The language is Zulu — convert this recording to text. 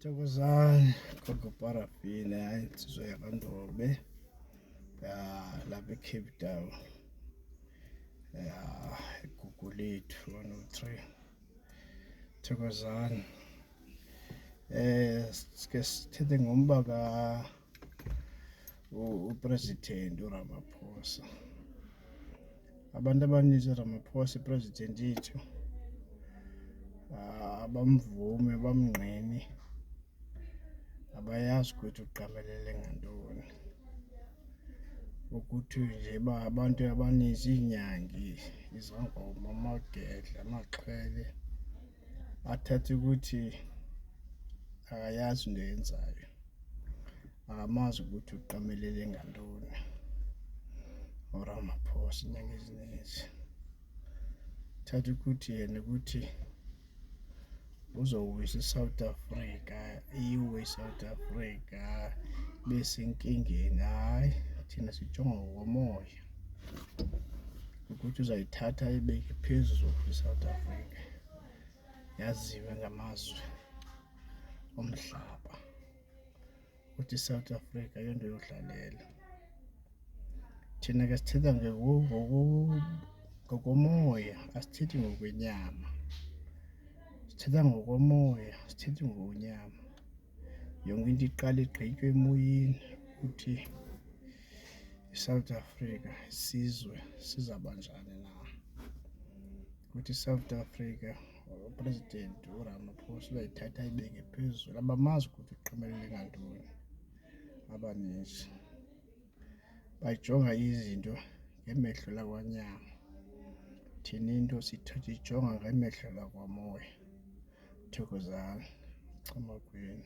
Thokozani gogo parafini hayi insizwa yakandobe ya lapha ecape town ya igugu lethu 103 thokozani um eh, sike sithethe ngomba ka upresident uRamaphosa abantu abaninzi uRamaphosa ipresident yethu ah, abamvume bamngqini abayazi ukuthi uqamelele ngantoni ukuthi nje ba abantu abaninzi iinyangi izangoma amagedla amaxhwele athathe ukuthi akayazi into yenzayo akamazi ukuthi uqamelele ngantoni uramaphosa inyanga eziningi thatha ukuthi yena ukuthi uzowisa i-south africa iwe i-south africa besenkingeni hhayi thina sijonga ngokomoya ukuthi uzayithatha ayibeke phezulu i-south africa yaziwe ngamazwe omhlaba ukuthi i-south africa yonto yodlalela thina ke sithetha ngokomoya asithethi ngokwenyama sithetha ngokomoya sithethi ngokwenyama yonke into iqala igqitywe emoyeni ukuthi iSouth Africa isizwe sizabanjani na ukuthi iSouth Africa uPresident uRamaphosa uyayithatha ibeke phezulu abamazi ukuthi uqhumelele ngantoni abaningi bayijonga izinto ngemehlo lakwanyama thina into sithatha ijonga ngemehlo lakwamoya thokozani chama kwenu